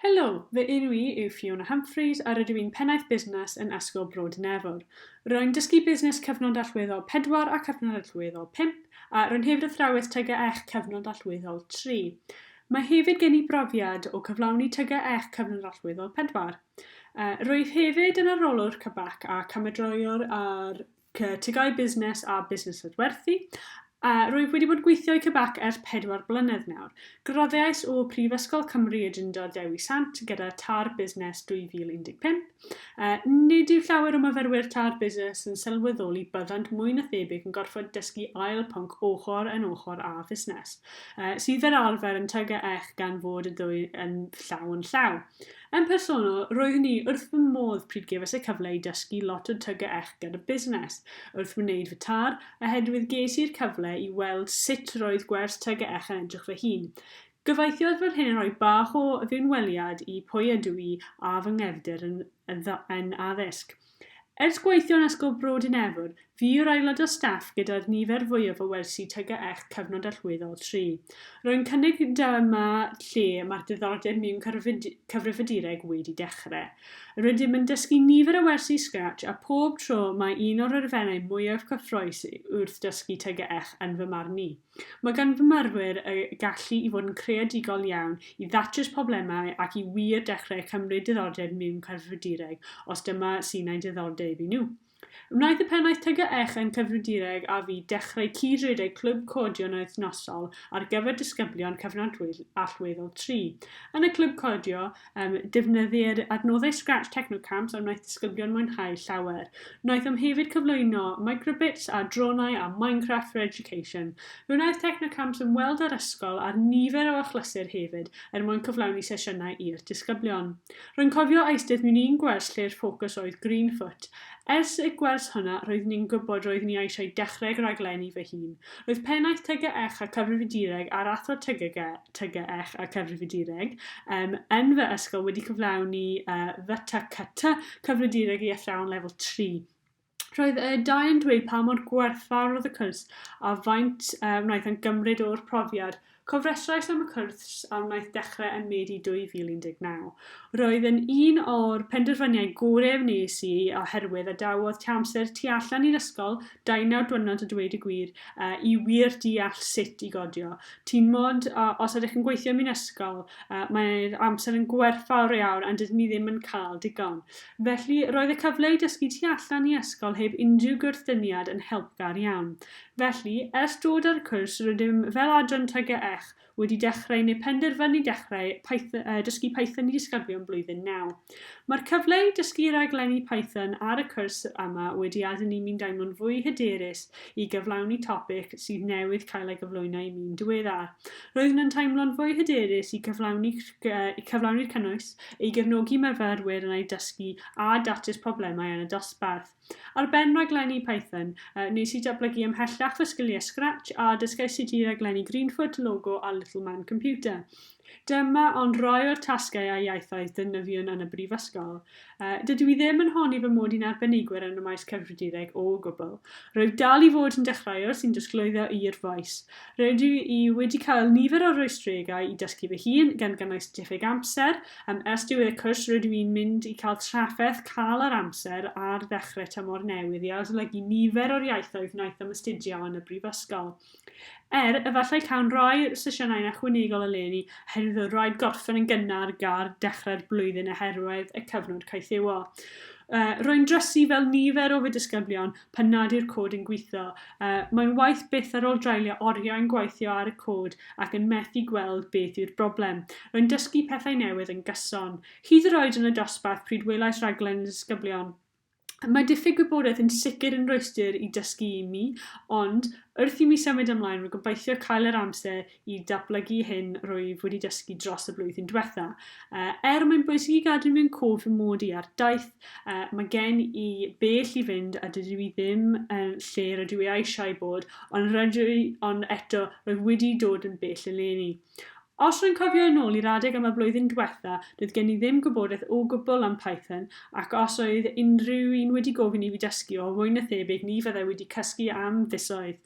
Helo, fy enw i yw Fiona Humphreys a rydw i'n Pennaeth Busnes yn Ysgol Bro Dinefwr. Rwy'n dysgu Busnes Cyfnod Allweddol 4 a Cyfnod Allweddol 5 a rwy'n hefyd athrawes TGEch Cyfnod Allweddol 3. Mae hefyd gen i brofiad o cyflawni TGEch Cyfnod Allweddol 4. Rwyf hefyd yn arolwr CABAC ac ymedroiwr ar Cytigai Busnes a Busnes Adwerthu, a rwyf wedi bod gweithio i CBAC ers pedwar blynedd nawr. Graddais o Brifysgol Cymru y Drindod Dewi Sant gyda Târ Busnes 2015. Nid yw llawer o myfyrwyr Târ Busnes yn sylweddoli byddant mwy na thebyg yn gorfod dysgu ail pwnc ochr yn ochr â Fusnes, sydd fel arfer yn TGEC gan fod y ddwy yn llaw yn llaw. Yn personol, roeddwn i wrth fy modd pryd gefais y cyfle i dysgu lot o TGEch gyda busnes wrth wneud fy tar, oherwydd ges i'r cyfle i weld sut roedd gwers TGEch yn edrych fy hun. Gobeithio fod hyn yn rhoi bach o fewnweliad i pwy ydw i a fy nghefndir yn addysg. Ers gweithio yn Ysgol Bro Dinefwr, fi yw'r aelod o staff gyda'r nifer fwyaf o wersi TGECH cyfnod allweddol, tri. Rwy'n cynnig dyma lle mae'r diddordeb mewn cyfrifiadureg wedi dechrau. Rydym yn dysgu nifer o wersi Scratch a phob tro mae un o'r elfennau mwyaf cyffrous wrth ddysgu TGECH yn fy marn i. Mae gan fy myrwyr y gallu i fod yn creadigol iawn, i ddatrys problemau ac i wir dechrau cymryd diddordeb mewn cyfrifiadureg os dyma sy'n eu diddordeb i nhw. Wnaeth y pennaeth TGEch yn Cyfrifiadureg a fi ddechrau cyd-redeg clwb codio yn wythnosol ar gyfer disgyblion cyfnod allweddol tri. Yn y clwb codio, Um, defnyddir adnoddau Scratch Technocamps a wnaeth disgyblion mwynhau llawer. Wnaethom hefyd cyflwyno microbits a dronau a Minecraft for Education. Fe wnaeth Technocamps ymweld â'r ysgol ar nifer o achlysur hefyd er mwyn cyflawni sesiynau i'r disgyblion. Rwy'n cofio eisteddf mewn un gwers lle'r ffocws oedd Greenfoot. Ers y gwers hwnna roeddwn i'n gwybod roeddwn i eisiau dechrau rhaglenni fy hun. Roedd Pennaeth TGECH a Cyfrifiadureg a'r Athro TGECH a Cyfrifiadureg um, yn fy ysgol wedi cyflawni uh, FTCT, Cyfrifiadureg i Athrawon Lefel 3. Roedd y dau yn dweud pa mor gwerthfawr oedd y cwrs a faint uh, wnaeth yn gymryd o'r profiad Cofrestrais am y cwrs a wnaeth dechrau ym Medi 2019. Roedd yn un o'r penderfyniau gorau wnes i oherwydd adawodd tua amser tu allan i'r ysgol, dau naw dwrnod a dweud y gwir, i wir deall sut i godio. Ti'n mod, os ydych yn gweithio mewn ysgol, mae'r amser yn gwerthfawr iawn a dydyn ni ddim yn cael digon. Felly, roedd y cyfle i dysgu tu allan i ysgol heb unrhyw gwrthdyniad yn helpgar iawn. Felly, ers dod â'r cwrs rydym fel adran TGEH wedi dechrau neu penderfynu dechrau Python, uh, dysgu Python i disgyblion blwyddyn 9. Mae'r cyfle i dysgu raglenni Python ar y cwrs yma wedi adael i mi'n daimlo'n fwy hyderus i gyflawni topic sydd newydd cael ei gyflwyno i mi'n diweddar. Roeddwn yn teimlo'n fwy hyderus i cyflawni, uh, cyflawni'r cynnwys, ei gefnogi myfyrwyr yn ei dysgu a datrys problemau yn y dosbarth. Ar ben rhaglenni Python, wnes i datblygu ymhellach fy sgiliau Scratch a dysgais sut i raglennu Greenfoot, Logo a Little Man Computer. Dyma ond rai o'r tasgau a iaithoedd defnyddiwn yn y brifysgol. Dydw i ddim yn honni fy mod i'n arbenigwr yn y maes cyfrifiadureg o gwbl. Rwyf dal i fod yn dechreuwr sy'n disglwyddo i'r faes. Rydw i wedi cael nifer o rwystregau i dysgu fy hun, gan gynnwys diffyg amser, Yn ystod y cwrs rydw i'n mynd i cael trafferth cael yr amser ar ddechrau tymor newydd i arolygu nifer o'r iaithoedd wnaeth am astudio yn y brifysgol. Er, efallai cawn roi sesiynau'n ychwanegol eleni oherwydd o raid gorffen yn gynnar gar dechrau'r blwyddyn oherwydd y cyfnod caethiwo. Rwy'n drysu fel nifer o fy disgyblion, pan nad yw'r cod yn gweithio. Mae'n waeth byth ar ôl draulio oriau yn gweithio ar y cod ac yn methu gweld beth yw'r broblem. Rwy'n dysgu pethau newydd yn gyson. Hyd yr oed yn y dosbarth pryd welais raglen y disgyblion. Mae diffyg gwybodaeth yn sicr yn rwystr i dysgu i mi, ond, wrth i mi symud ymlaen, rwy'n gobeithio cael yr amser i datblygu hyn rwyf wedi dysgu dros y blwyddyn diwetha. Uh, er mae'n bwysig i gadw mewn cof fy mod i ar daith, uh, mae gen i bell i fynd a dydw i ddim yn lle rydw i eisiau bod, ond rydw i ond eto rwyf wedi dod yn bell eleni. Os rwy'n cofio yn ôl i'r adeg yma blwyddyn diwetha, doedd gen i ddim gwybodaeth o gwbl am Python, ac os oedd unrhyw un wedi gofyn i fi dysgu o fwy na thebyg ni fyddai wedi cysgu am fisoedd.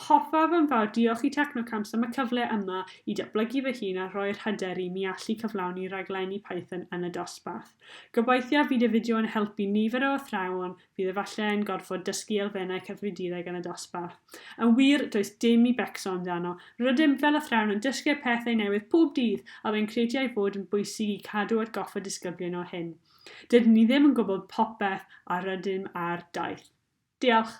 Hoffaf yn fawr diolch i Technocamps am y cyfle yma i datblygu fy hun a rhoi'r hyder i mi allu cyflawni rhaglenni Python yn y dosbarth. Gobeithiaf fydd y fideo yn helpu nifer o athrawon fydd efallai yn gorfod dysgu elfennau cyfrifiadureg yn y dosbarth. Yn wir, does dim i becso amdano. Rydym fel athrawon yn dysgu'r pethau newydd pob dydd a fe'n credu ei fod yn bwysig i cadw atgoffa disgyblion o hyn. Dydyn ni ddim yn gwybod popeth a rydym ar daith. Diolch!